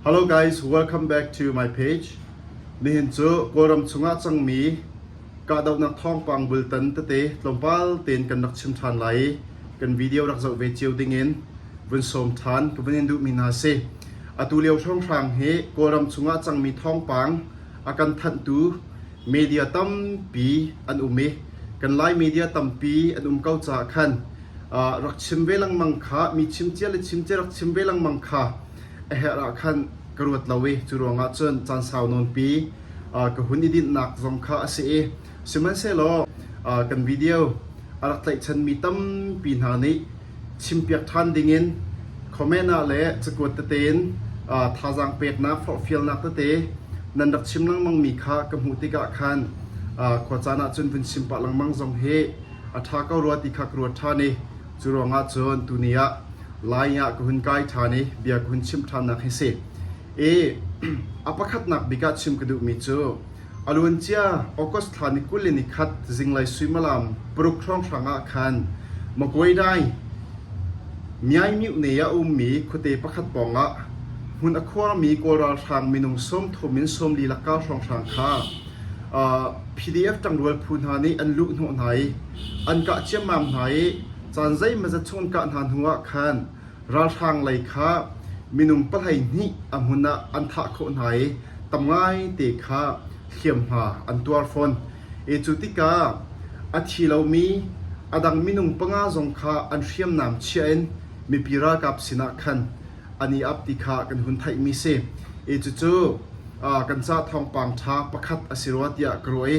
Hello guys, welcome back to my page. Nihin cu Kawlram chungah cangmi kahdohnak thawngpang bultan tete tlawmpal tein kan rak chim ṭhan lai i kan video rak zoh ve cio dingin vun sawm ṭhan ka vun in duhmi hna si. Atu lio hrawnghrang hi Kawlram chungah cangmi thawngpang a kan thanhtu media tampi an um i kan Lai media tampi an um ko caah khan rak chim ve lengmang kha mi chimcia le chimcia rak chim ve lengmang kha a herh ah khan ka ruat lo i cu ruangah cun caan sau nawnpi ka hun i dinhnak zong kha a si i sihmanhsehlaw kan video a rak tlaihchanmi tampi hna nih chimpiak ṭhan dingin comment ah le cakuat tete in thazaang peknak forhfialnak tete nan rak chim lengmangmi kha ka hmuh tikah khan khua caan ah cun vun chim pah lengmang zong hi a ṭha ko rua ti kha ka ruat ṭhan i cu ruangah cun tuni ah Lai ah ka hun kai ṭhan i bia ka hun chim ṭhannak hi a si. I a pakhatnak bik ah chim ka duhmi cu a luancia August thla ni kul le ni khat zinglei suimilam paruk hrawng hrang ah khan Maguedai Myaimyuhne ah a ummi khuate pakhat pawngah hmun a khuarmi Kawl ralhrang minung sawm thum in sawm li laka hrawng hrang kha PDF ṭangrual phu hna nih an luh hnawh hna i an kah ciammam hna i caan zeimazat chung an kah hna hnuah khan ralhrang lei kha minung pahleihnih a hmun ah an thah khawh hna i tam ngaite kha hliamhma an tuar fawn. E cu tikah a thi lomi a dang minung panga zong kha an hriamnam chiah in mipi ralkap sinah khan an i ap ti kha kan hun theihmi si. I cucu kan ca thawngpang ṭha pakhat a si rua tiah ka ruah i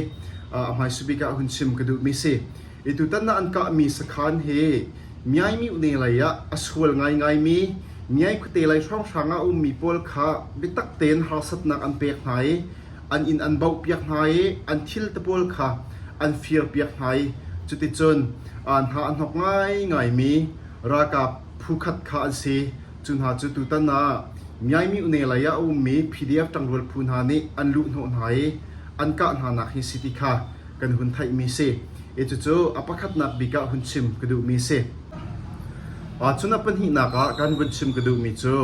a hmaisa bik ah hun chim ka duhmi si. I tutan na an kahmi sakhan hi Miaimiu ne lei ah a sual ngaingaimi Miai khuate lei hrawnghrang ah a ummi pawl kha biatak tein harsatnak an pek hna i an inn an baohpiak hna i an thil te pawl kha an firpiak hna i cuticun hna a hnawk ngaingaimi ralkap Phukhat kha an si. Cu hna cu tutan ah Myaimyone lei ah a ummi PDF ṭangrual phu hna nih an luhhnawh hna i an kah hnanak hi si ti kha kan hun theihmi a si. I cucu a pakhatnak bik ah hun chim ka duhmi a si. Cun a pahnihnak ah kan vun chim ka duhmi cu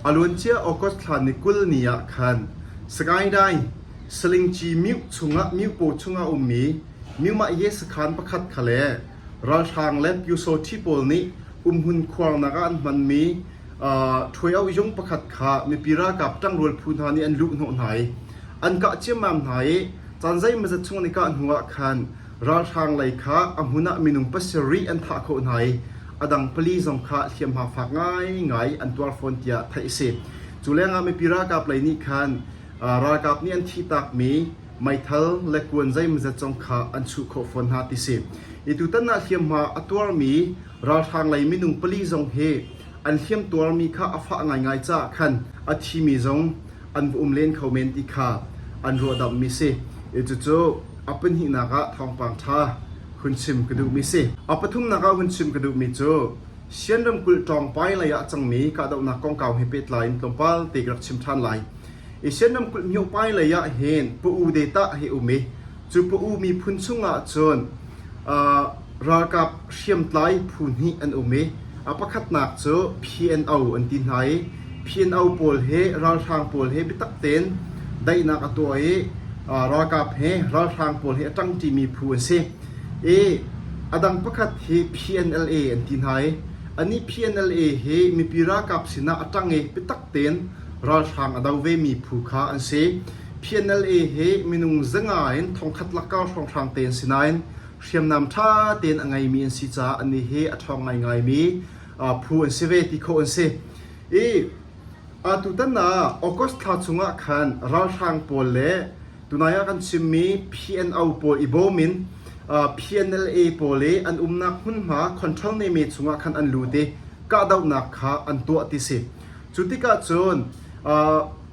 a luancia August thla ni kul ni ah khan Sagaing Salingci Myu chung ah Myu paw chung ah a ummi Myu Mahye sakhan pakhat kha le ralhrang le pyusawṭhi pawl nih kumhmun khuarnak ah an hmanmi ṭhuoiauhzung pakhat kha mipi ralkap ṭangrual phu hna nih an luhhnawh hna i an kah ciammam hna i caan zeimazat chung an i kah hnuah khan ralhrang lei kha a hmun ah minung pasarih an thah khawh hna i a dang pali zong kha hliamhma fak ngaingai an tuar fawn tiah theih a si. Cu lengah mipi ralkap lei nih khan ralkap nih an thih takmi meithal le kuan zeimazet zong kha an chuh khawh fawn hna ti si. Hi tutan ah hliamhma a tuarmi ralhrang lei minung pali zong hi an hliamtuarmi kha a fah ngaingai caah khan a thimi zong an va um len kho men ti kha an ruahdamhmi si. Cucu a pahnihnak ah thawngpang ṭha hun chim ka duhmi si. A pathumnak ah hun chim ka duhmi cu Sian ramkulh Ṭawngpai lei ah cangmi kahdohnak kongkau he pehtlai in tlawmpal te ka rak chim ṭhan lai. Asian ramkulh myohpai lei ah hin pa-u detah hi a um i cu pa-u miphun chungah cun aa ralkap hriamtlai phu hnih an um i a pakhatnak cu PNO an ti hna i PNO pawl hi ralhrang pawl hi biatak tein daihnak a tuah i aa ralkap he ralhrang pawl hi a ṭangṭimi phu an si. I a dang pakhat hi PNLA an ti hna i anih PNLA hi mipi ralkap sinah a ṭang i biatak tein Ralhrang a do vemi phu kha an si. PNLA hi minung zawnga in thongkhat lakkar hrawnghrang te an si nain hriamnam ṭha tein a ngeimi an si caah anih hi a ṭhawng ngaingaimi phu an si ve ti khawh an si. I atutan ah August thla chungah khan ralhrang pawl le tunai ah kan chimmi PNO pawl i bawm in PNLA pawl i an umnak hmunhma control neme chungah khan an lut i kahdohnak kha an tuah ti si. Cu tikah cun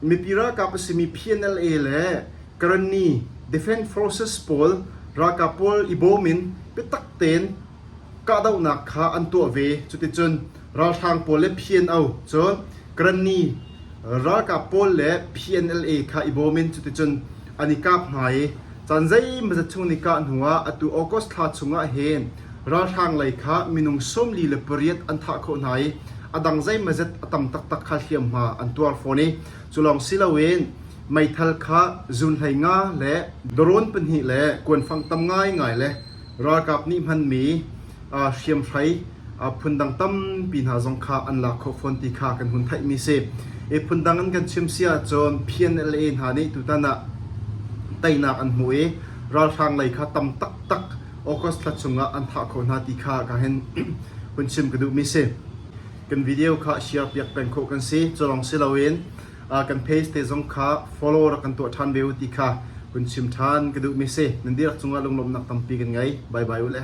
mipi ralkap a simi PNLA le Karani defense forces pawl ralkap pawl i bawm in biatak tein kahdohnak kha an tuah ve. Cuticun ralhrang pawl le PNO cu Karani ralkap pawl le PNLA kha i bawm in cuticun an i kap hna i caan zeimawzat chung an i kah hnuah atu August thla chungah hin Ralhrang lei kha minung sawmli le pariat an thah khawh hna i a dang zeimazet a tam taktak kha hliamhma an tuar fawn i cu lawng si loin meithal kha zunhlei nga le drone pahnih le kuanfang tam ngaingai le ralkap nih hmanmi hriamhrai phundang tampi hna zong kha an lak khawh fawn ti kha kan hun theihmi si. I phundang in kan chim si ahcun PNLA hna nih tutan ah teinak an hmuh i ralhrang lei kha tam taktak August thla chungah an thah kho hna ti kha ka hen hun chim ka duhmi si. Kan video kha share piak peng khawh kan si. Culong si loin kan page te zong kha follow rak kan tuah ṭhan ve u ti kha hun chim ṭhan ka duhmi si. Nan dihlak cungah lunglawmhnak tampi kan ngei. Bye bye ule.